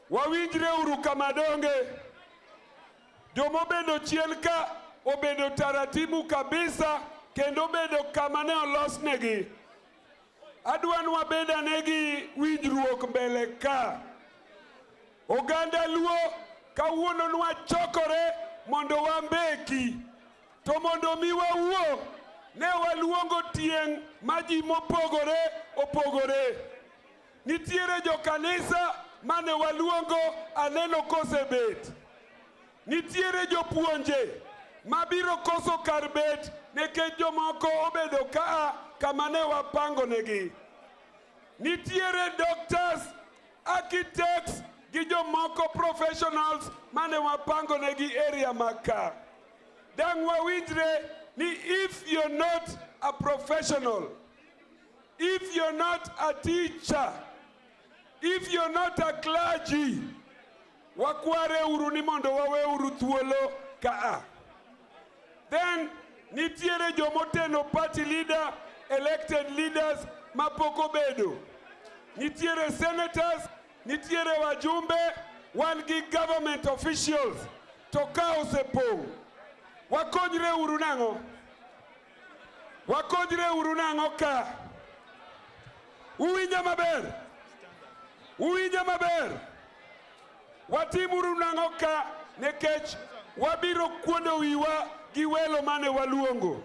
Wawinjre uru kama donge joma obedo chien ka obedo taratibu kabisa kendo obedo kama ne olosnegi. Adwa ni wabed ane gi winjruok mbele ka. Oganda Luo kawuono nwachokore mondo wambeki to mondo mi wawuo ne waluongo tieng' ma ji mopogore opogore Nitiere jo kanisa mane waluongo aneno kosebet. Nitiere jopuonje mabiro koso kar bet nikech jomoko obedo kaa kama ne wapangonegi. Nitiere doctors, architects gi jomoko professionals mane wapangonegi area mag ka. Dang' wawinjre ni if you're not a professional If you're not a teacher, if you're not a clergy, wakware uru ni mondo wawe uru thuolo kaa. Then nitiere jomoteno party leader, elected leaders mapok obedo. Nitiere senators, nitiere wajumbe, wan gi government officials to ka osepong' wakonyre uru nang'o? Wakonyre uru nang'o ka? Uwinja maber? Uwinja maber? Watimuru nang'o ka nikech wabiro kuondo wiwa gi welo mane waluongo.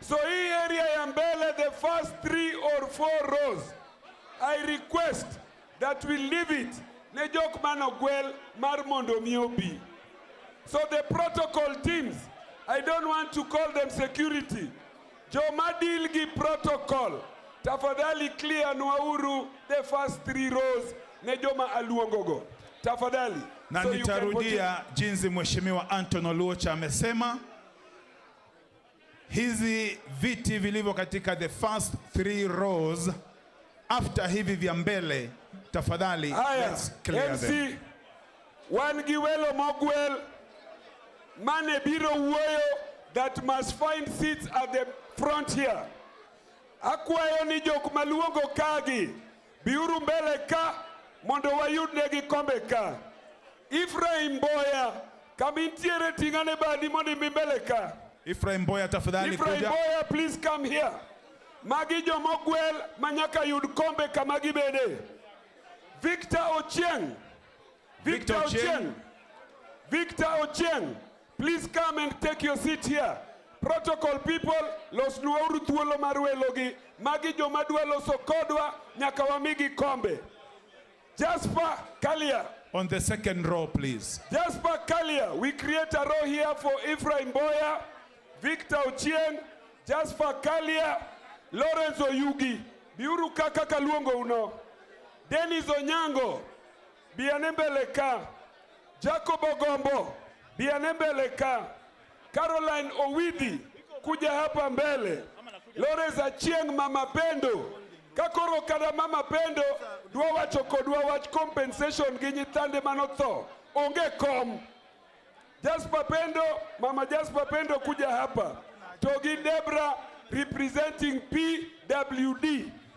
So hii area ya mbele the first three or four rows I request that we leave it ne jok man ogwel mar mondo mi obi. So the protocol teams, I don't want to call them security. Joma deal gi protocol, tafadhali clear nwauru the first three rows ne joma aluongogo. Tafadhali. Na so nitarudia jinsi Mheshimiwa Anton Oluoch amesema. Hizi viti vilivyo katika the first three rows after hivi vya mbele tafadhali, let's clear them. Wan gi welo mogwel mane biro wuoyo that must find seats at the front here. Akwayo ni jok maluongo kagi biuru mbele ka mondo wayudnegi kombe ka. Ephraim Boya, kama intiere tingane badi mondo imbi mbele ka. Ephraim Boya tafadhali kuja. Ephraim Boya please come here. Magi joma ogwel manyaka yud kombe kama gibede. Victor Ochieng. Victor Ochieng. Victor Ochieng. Please come and take your seat here. Protocol people, los losnuwauru thuolo mar welogi. Magi joma dwa loso kodwa nyaka wamigi kombe. Jasper Kalia. On the second row, please. Jasper Kalia, we create a row here for Ephraim Boya, Victor Ochieng, Jasper Kalia, Lawrence Oyugi, Biuru Kaka Kaluongo Uno, Dennis Onyango, Bianembeleka, Jacob Ogombo, Bianembeleka, Caroline Owidhi kuja hapa mbele. Lawrence Achieng, mama Pendo kakoro kada mama Pendo dwa wacho kodwa wach compensation gi nyithande manotho onge kom. Jasper Pendo, mama Jasper Pendo kuja hapa. Togi Debra representing PWD.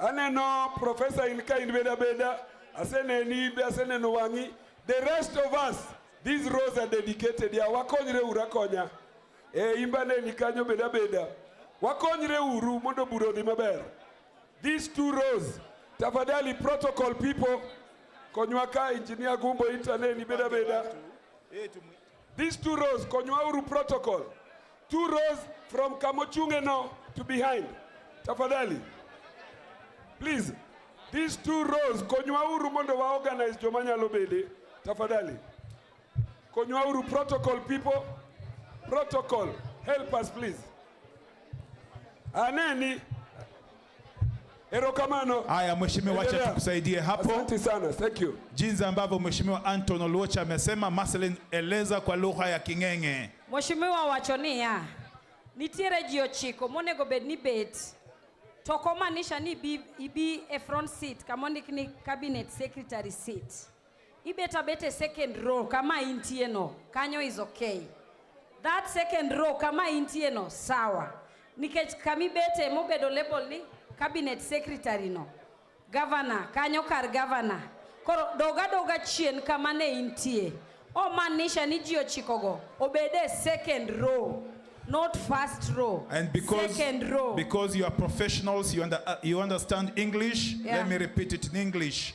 Aneno Professor in ka in beda beda, aseneni be aseneno wang'i. The rest of us, these rows are dedicated. Ya wakonyre ura konya. E imbane ni kanyo beda beda. Wakonyre uru mondo bura odhi maber. These two rows, tafadhali protocol people, konywa ka engineer Gumbo itaneni beda beda. These two rows, Konywauru protocol. Two rows from Kamochunge now to behind. Tafadhali. Please. These two rows, Konywauru mondo wa organize joma nyalo bede. Tafadhali. Konywauru protocol people. Protocol. Help us please. Aneni. Erokamano. Haya mheshimiwa, acha tukusaidie hapo. Asante sana. Thank you. Jinsi ambavyo mheshimiwa Anton Oluocha amesema, Marcelin eleza kwa lugha ya King'eng'e. Mheshimiwa wacho niya nitiere ji ochiko monego bed ni bet to ok omaanisha ni ibi, ibi e front seat kama ondik ni cabinet secretary seat. Ibet abet e second row kama intie no, kanyo is okay. That second row kama intie no, sawa. Nikech kami bete mobedo label ni cabinet secretary no. Governor, kanyo kar governor. Koro doga doga chien kama ne intie. Omaanisha ni ji ochikogo obede second row. not first row. And because, second row. because you are professionals, you, under, uh, you understand English, yeah. let me repeat it in English.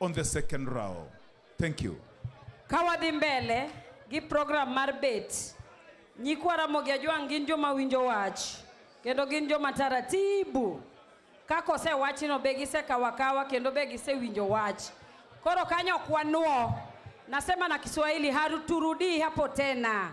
on the second row. Thank you. Kawadhi mbele gi program mar bet. Nyikwa Ramogi Ajwang' gin joma winjo wach kendo gin joma taratibu. Kako se wachino be gise kawakawa kendo be gise winjo wach. Koro kanyo kwanuo. Nasema na Kiswahili haruturudii hapo tena.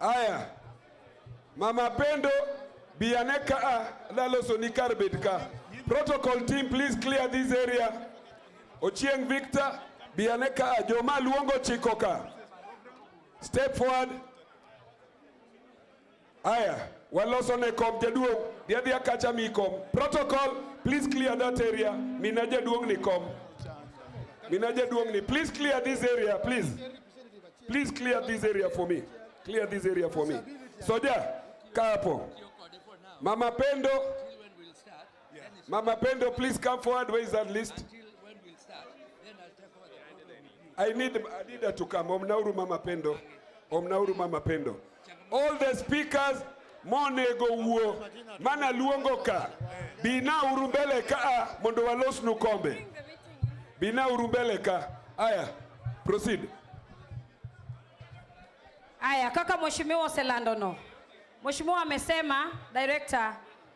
Aya, Mama Pendo Bianeka ah, Laloso ni Karbet ka. Protocol team please clear this area. Ochieng Victor Bianeka ah, Joma luongo chiko ka. Step forward. Aya, waloso ne kom jaduong' dhiadhia kacha mi kom protocol please clear that area mina jaduong' ni kom mina jaduong' ni please clear this area please please clear this area for me clear this area for me soja kaa hapo mama pendo Yeah. Mama Pendo, please come forward. Where is that list? Until when we'll start, then I'll take over the program. I need, I need her to come. Omnauru Mama Pendo. Omnauru Mama Pendo. All the speakers, monego wuo mana luongo ka bina uru mbele ka ah, mondo walosnu kombe bina uru mbele ka aya proceed Aya, kaka mheshimiwa Oselando no. Mheshimiwa amesema director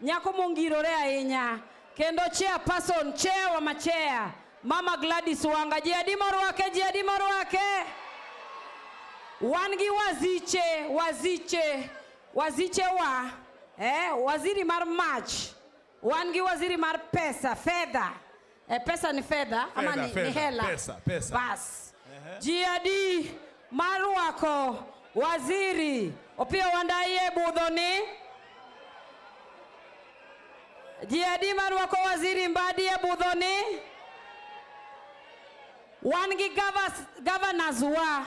Nyako mongirore ahinya kendo chair person chair wa machea Mama Gladys Wanga ji adi morwake ji adi morwake wan gi waziche waziche waziche wa eh, waziri mar mach wan gi waziri mar pesa fedha Eh, pesa ni fedha ama ni, fedha, ni hela? Pesa, pesa. Bas. Uh-huh. Jiadi Maruako Waziri Opiyo Wandayi budho ni Jiadi Maruako Waziri Mbadi e budho ni wan gi governors wa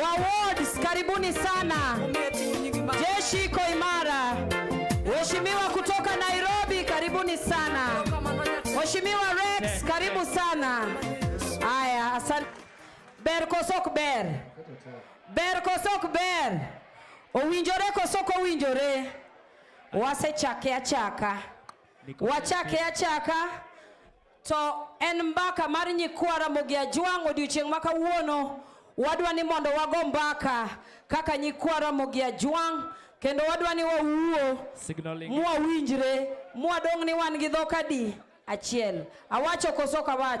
Wawards, karibuni sana. Jeshi iko imara. Mheshimiwa kutoka Nairobi, karibuni sana. Mheshimiwa Rex, karibu sana. Haya, asante. Ber kosok ber. Ber kosok ber. Owinjore kosok owinjore. Wasechake achaka. Wachake achaka. To en mbaka mar nyikwa Ramogi Ajwang' odiochieng' ma kawuono wadwa ni mondo wago mbaka kaka nyikwa Ramogi Ajwang' kendo wadwa ni wawuo mwawinjre mwadong' ni wan gi dhok adi achiel awacho koso kawacho